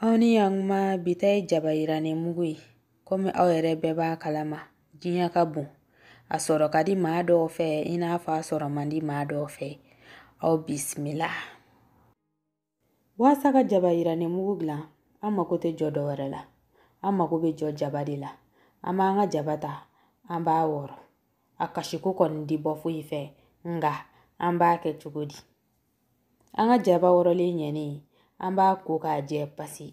Aw ni ɲankuma bi ta ye jaba yirannen mugu ye komi aw yɛrɛ bɛɛ b'a kalama diɲɛ ka bon a sɔrɔ ka di maa dɔw fɛ i n'a fɔ a sɔrɔ man di maa dɔw fɛ aw bisimila waasa ka jaba yirannen mugu dilan an mako tɛ jɔ dɔwɛrɛ la an mako bɛ jɔ jaba de la an b'an ka jaba ta an b'a wɔrɔ a kasiko kɔni tɛ bɔ foyi fɛ nka an b'a kɛ cogo di an ka jaba wɔrɔlen ɲɛnen an b'a ko k'a jɛ pasi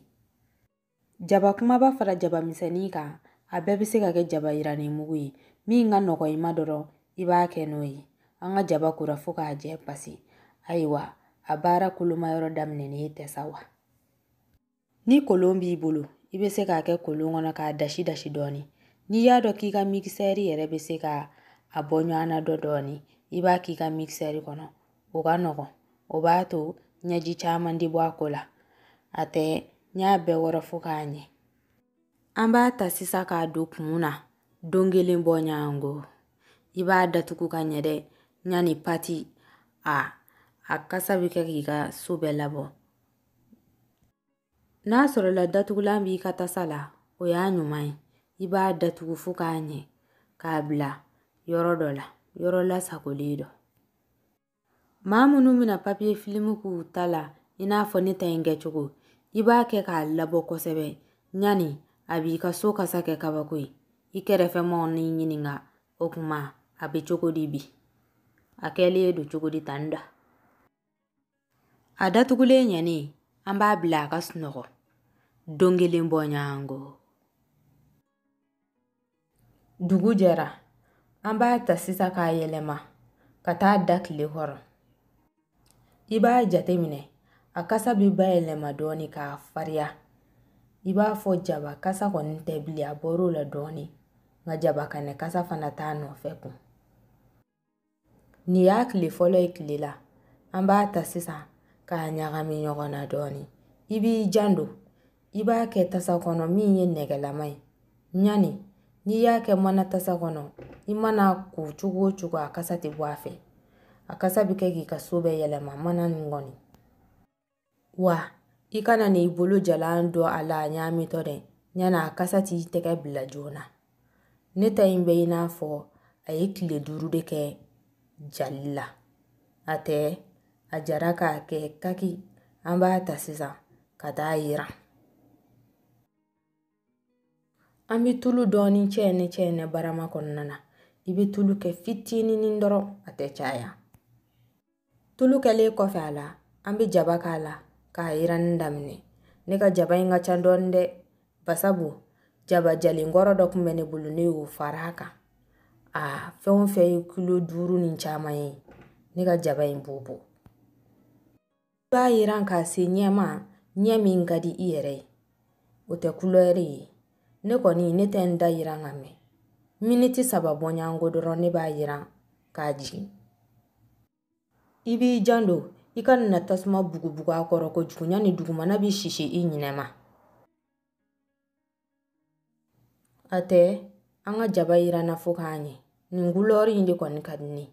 jaba kumaba fara jaba misɛnnin kan a bɛɛ bɛ se ka kɛ jaba yirannen mugu ye min ka nɔgɔ i ma dɔrɔn i b'a kɛ n'o ye an ka jaba kora fo k'a jɛ pasi ayiwa a baara kolomayɔrɔ daminɛnen tɛ sa wa ni kolon b'i bolo i bɛ se k'a kɛ kolon kɔnɔ k'a dasi dasi dɔɔnin n'i y'a dɔn k'i ka mikisɛri yɛrɛ bɛ se ka a bɔ ɲɔgɔn na dɔ dɔɔnin i b'a k'i ka mikisɛri kɔnɔ o ka nɔgɔn o b'a to ɲɛji caman tɛ bɔ a ko la a tɛ n y'a bɛɛ wɔrɔ fo k'a ɲɛ an b'a ta sisan k'a don kumu na don kelen bɔ ɲɔgɔnko i b'a datugu ka ɲɛ dɛ yanni pati a a kasa bɛ kɛ k'i ka so bɛɛ labɔ N'a sɔrɔla datugulan b'i ka tasa la o y'a ɲuman ye i b'a datugu fo k'a ɲɛ k'a bila yɔrɔ dɔ la yɔrɔ lasagolen dɔ maa minnu bɛna papiye filimu k'u ta la i n'a fɔ ne ta in kɛcogo i b'a kɛ k'a labɔ kosɛbɛ yanni a b'i ka so kasa kɛ kabako ye i kɛrɛfɛ maaw n'i ɲininka o kuma a bɛ cogo di bi a kɛlen don cogo di tan da a datugulen ɲɛnen an b'a bila a ka sunɔgɔ don kelen bɔ ɲɔgɔnko dugu jɛra an b'a ta sisan k'a yɛlɛma ka taa da tile kɔrɔ i b'a jate minɛ a kasa bɛ bayɛlɛma dɔɔni k'a fariya i b'a fɔ jaba kasa kɔni tɛ bilen a bɔr'o la dɔɔni nka jaba kɛnɛ kasa fana t'a nɔfɛ kun Nin y'a tile fɔlɔ ye tile la an b'a ta sisan k'a ɲagami ɲɔgɔn na dɔɔnin i b'i janto i b'a kɛ tasa kɔnɔ min ye nɛgɛlama ye yanni n'i y'a kɛ mana tasa kɔnɔ i man'a ko cogo o cogo a kasa tɛ bɔ a fɛ a kasa bɛ kɛ k'i ka so bɛɛ yɛlɛma mana nin kɔni wa i kana n'i bolo jalan don a la a ɲaamitɔ dɛ yanni a kasa t'i tɛgɛ bila joona ne ta in bɛ i n'a fɔ a ye tile duuru de kɛ jali la a tɛ a jara k'a kɛ kaki an b'a ta sisan ka taa yiran an bɛ tulu dɔɔni cɛɛnɛ cɛɛnɛ barama kɔnɔna na i bɛ tulu kɛ fitinin dɔrɔn a tɛ caya tulu kɛlen kɔfɛ a la an bɛ jaba k'a la k'a yiranni daminɛ ne ka jaba in ka ca dɔɔnin dɛ basabu jaba jalen kɔrɔ dɔ tun bɛ ne bolo ne y'o fara a kan a fɛn o fɛn ye kilo duuru ni caman ye ne ka jaba in b'o bɔ i b'a yiran k'a se ɲɛma ɲɛ min ka di i yɛrɛ ye o tɛ kulɛri ye ne kɔni ne tɛ n ta yiran ka mɛn miniti saba bɔɲɔgɔnko dɔrɔn ne b'a yiran k'a jigin i b'i janto i kana tasuma bugubugu a kɔrɔ kojugu yanni dugumana bɛ sisi i ɲinɛ ma a tɛ an ka jaba yiranna fo k'a ɲɛ nin kulɛri in de kɔni ka di ne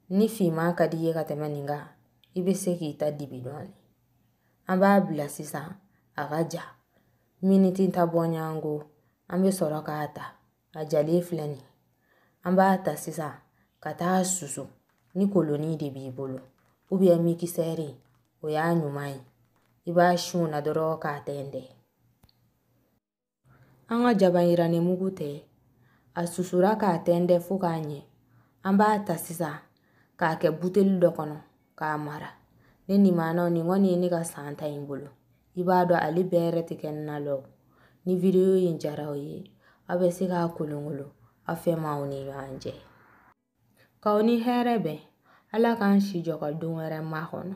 ni finman ka di i ye ka tɛmɛ nin kan i bɛ se k'i ta dibi dɔɔni an b'a bila sisan a ka ja miniti tan bɔɲɔgɔnko an bɛ sɔrɔ k'a ta a jalen filɛ nin an b'a ta sisan ka taa susu ni kolonin de b'i bolo ou bien mikisɛri o y'a ɲuman ye i b'a si o na dɔrɔn k'a tɛntɛn an ka jaba yirannen mugu tɛ a susura k'a tɛntɛn fo k'a ɲɛ an b'a ta sisan k'a kɛ buteli dɔ kɔnɔ k'a mara ne ni maanaw nin kɔni ye ne ka san ta ye n bolo i b'a dɔn ale bɛrɛ tɛ kɛ na lɔ ni video in diyara aw ye aw bɛ se k'a kolonkolo aw fɛ maaw ni ɲɔgɔn cɛ k'aw ni hɛrɛ bɛn ala k'an si jɔ ka don wɛrɛ makɔnɔ